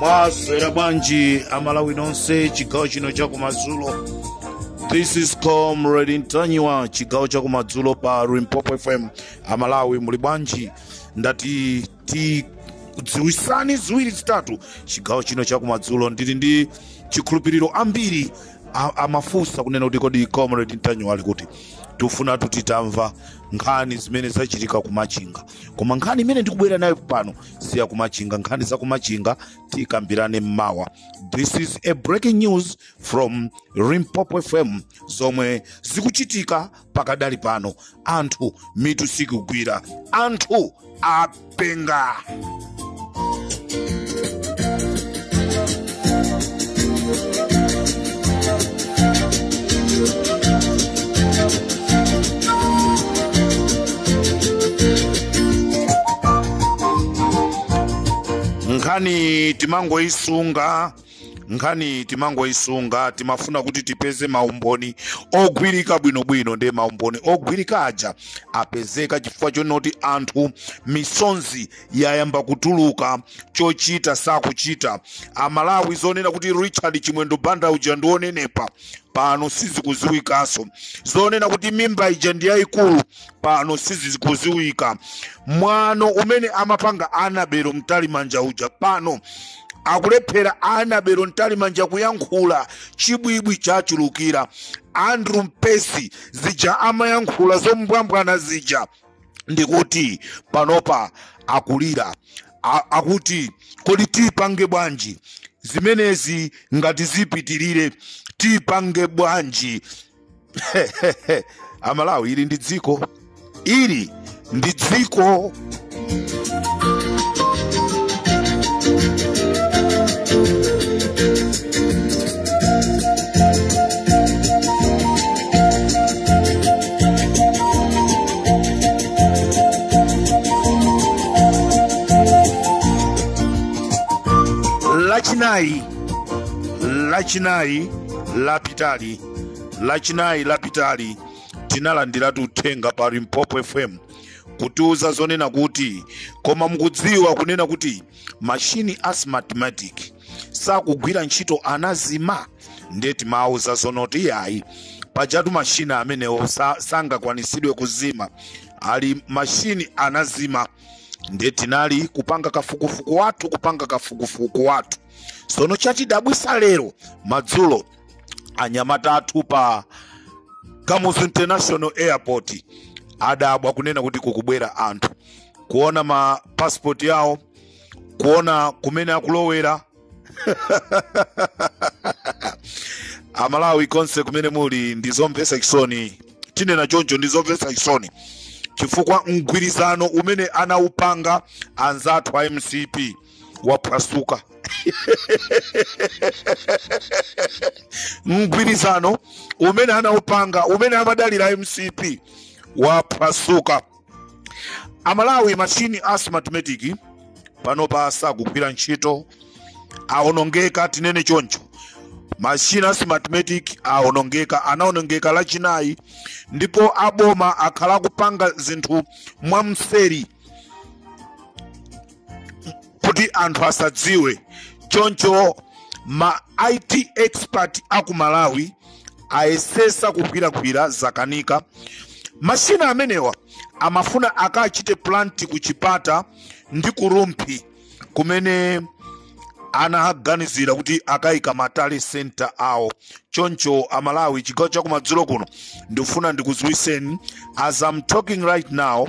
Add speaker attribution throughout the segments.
Speaker 1: mwaswera bwanji amalawi nonse chigawo chino chakumadzulo this is comrade ntanyiwa chigawo chakumadzulo pa limpopo fm amalawi muli bwanji ndati tikudziwisani ziwiri zitatu chigawo chino chakumadzulo ndili ndi chikhulupiriro ambiri a- amafunsa kunena kuti kodi comrade ntanyiwa ali kuti tifuna tutitamva nkhani zimene zachitika kumachinga koma nkhani imene ndikubwera nayo pano si ya kumachinga nkhani za kumachinga tikambirane mmawa this is a breaking news from limpopo fm zomwe zikuchitika pakadali pano anthu mitu sikugwira anthu apenga nkhani timangoyisunga nkhani timangoyisunga timafuna kuti tipeze maumboni ogwirika bwinobwino ndiye maumboni ogwirika aja apezeka chifukwa chonoti anthu misonzi yayamba kutuluka chochita sakuchita amalawi zonena kuti richard chimwendo banda uja ndi wonenepa pano sizikudziwikanso zonena kuti mimba ija ndi yayikulu pano sizikudziwika mwano umene amapanga annabel mtalimanja uja pano akulephera annabel mtalimanja kuyankhula chibwibwi chachulukira andrew mpesi zija amayankhula zombwambwana zija ndikuti panopa akulira akuti kodi tipange bwanji zimenezi ngati zipitirire tipange bwanji amalawi ili ndi dziko ili ndi dziko lachinayi lachinayi lapitali lachinayi lapitali tinalandiratu uthenga pa limpopo fm kutiuza zonena kuti koma mukudziwa kunena kuti mashini a smartmatic sakugwira ntchito anazima ndiye timawauza zonoti iyayi pajatu mashini amenewo sa- sangakwanitsidwe kuzima ali mashini anazima ndiye tinali kupanga kafukufuku wathu kupanga kafukufuku wathu sono chatidabwitsa lero madzulo anyamata athu pa kamuzu international airport adabwa kunena kuti kukubwera anthu kuona ma passport yawo kuona kumene akulowera amalawi konse kumene muli ndi zomvetsa chisoni tinene choncho ndi zomvetsa chisoni chifukwa mgwirizano umene anaupanga anzathu a mcp waphwasuka mgwirizano umene anaupanga umene amadalira mcp waphwasuka amalawi mashini a smartmatic panopa sakugwira ntchito aonongeka tinene choncho mashini a smartmatic aonongeka anaonongeka lachinayi ndipo aboma akhala akupanga zinthu mwamseri kuti anthu asadziwe choncho ma it expert aku malawi ayesetsa kugwiragwira zakanika mashini amenewa amafuna akachite plant ku chipata ndi ku rumphi kumene anaganizira kuti akayika ma tally center awo choncho amalawi chigawo chakumadzulo kuno ndikufuna ndikudziwiseni as i'm talking right now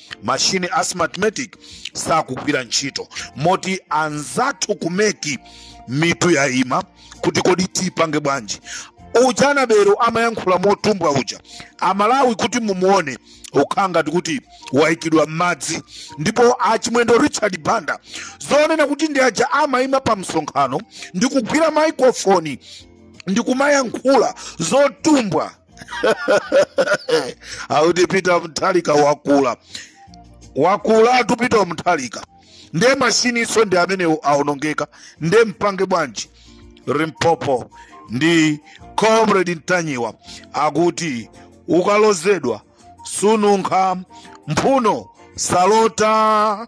Speaker 1: mashini a smartmatic sakugwira ntchito moti anzathu ku mec mitu yaima kuti kodi tipange bwanji uja anabelo amayankhula motumbwa uja amalawi kuti mumuone akukhala ngati kuti waikidwa m'madzi ndipo achimwendo richard banda zonena kuti ndi aja amaima pa msonkhano ndi kugwira maikrofoni ndi kumayankhula zotumbwa akuti peter mutharika wakula wakulatu peter mutharika nde mashininso ndi amene aonongeka nde mpange bwanji limpopo ndi comrade ntanyiwa akuti ukalodzedwa sununkha mphuno salota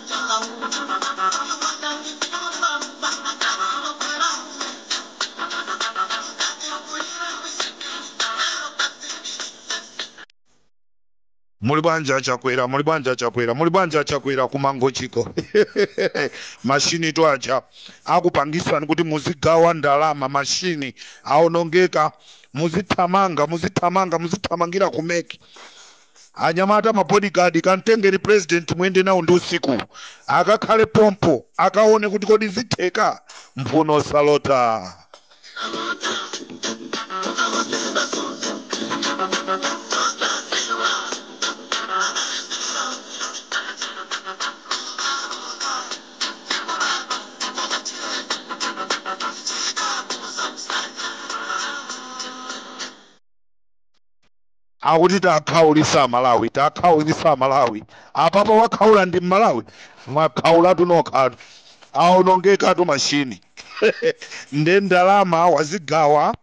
Speaker 1: Muli bwanji a Chakwera, muli bwanji a Chakwera, muli bwanji a Chakwera ku Mangochiko mashinitu aja akupangisani kuti muzigawa ndalama mashini aonongeka muzithamanga muzithamanga muzithamangira ku mec. Anyamata ma bodyguard kamtengereni president muyende nawo ndi usiku akakhale pompo akawone kuti kodi zitheka? Mphuno salota. Akuti takhaulisa amalawi takhaulisa amalawi apapo wakhaula ndi mmalawi? Mwakhaulatu nokhatu aonongekatu machine nde ndalama wazigawa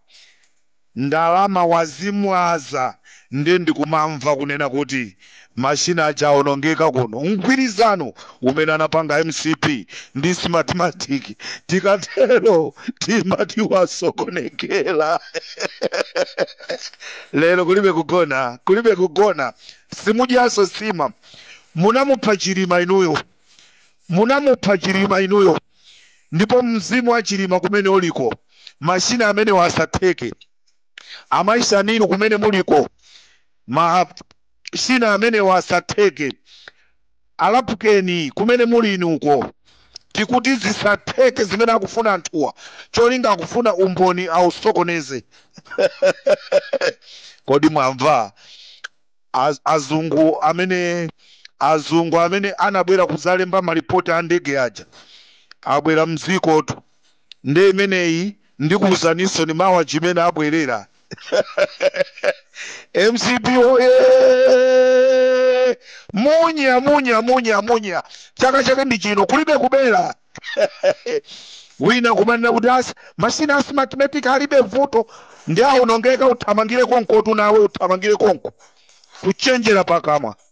Speaker 1: ndalama wazimwaza nde ndikumamva kunena kuti Machine aja aonongeka kuno. Mgwirizano umene anapanga mcp ndi Smartmatic tikatero timati wasokonekera. Lero kulibe kugona, kulibe kugona. Simudyanso nsima. Munamupha Chilima inuyo. Munamupha Chilima inuyo. Ndipo mzimu wa Chilima kumene uliko, machina amenewa asatheke. Amayi Shanil kumene muliko, ma. China amenewa asatheke a Lapken kumene muliinuko tikuti zisatheke zimene akufuna anthuwa cholinga akufuna umboni ausokoneze kodi mwamva azungu amene azungu amene anabwera kuzalemba ma report a ndege aja abwera mdzikotu. nde imeneyi ndikuuzaninsoni mawa chimene abwerera mcp woyee munya munya munya munya chaka chake ndi chino kulibe kubera wina kumanena kuti asi mashina a smartmatic alibe vuto ndi aonongeka uthamangire konkotu nawe uthamangire konko kuchenjera pakamwa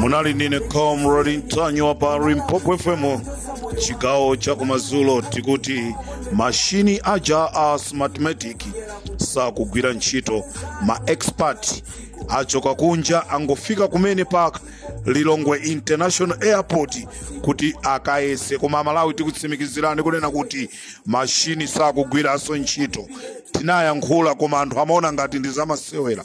Speaker 1: munali ndi ine comrade ntanyiwa pa limpopo fm chigawo cha kumadzulo tikuti mashini aja a smartmatic sakugwira ntchito ma expert achoka kunja angofika kumene pa ka lilongwe international airport kuti akayese koma amalawi tikutsimikizirani kunena kuti mashini sakugwiranso ntchito tinayankhula koma anthu amaona ngati ndi zamasewera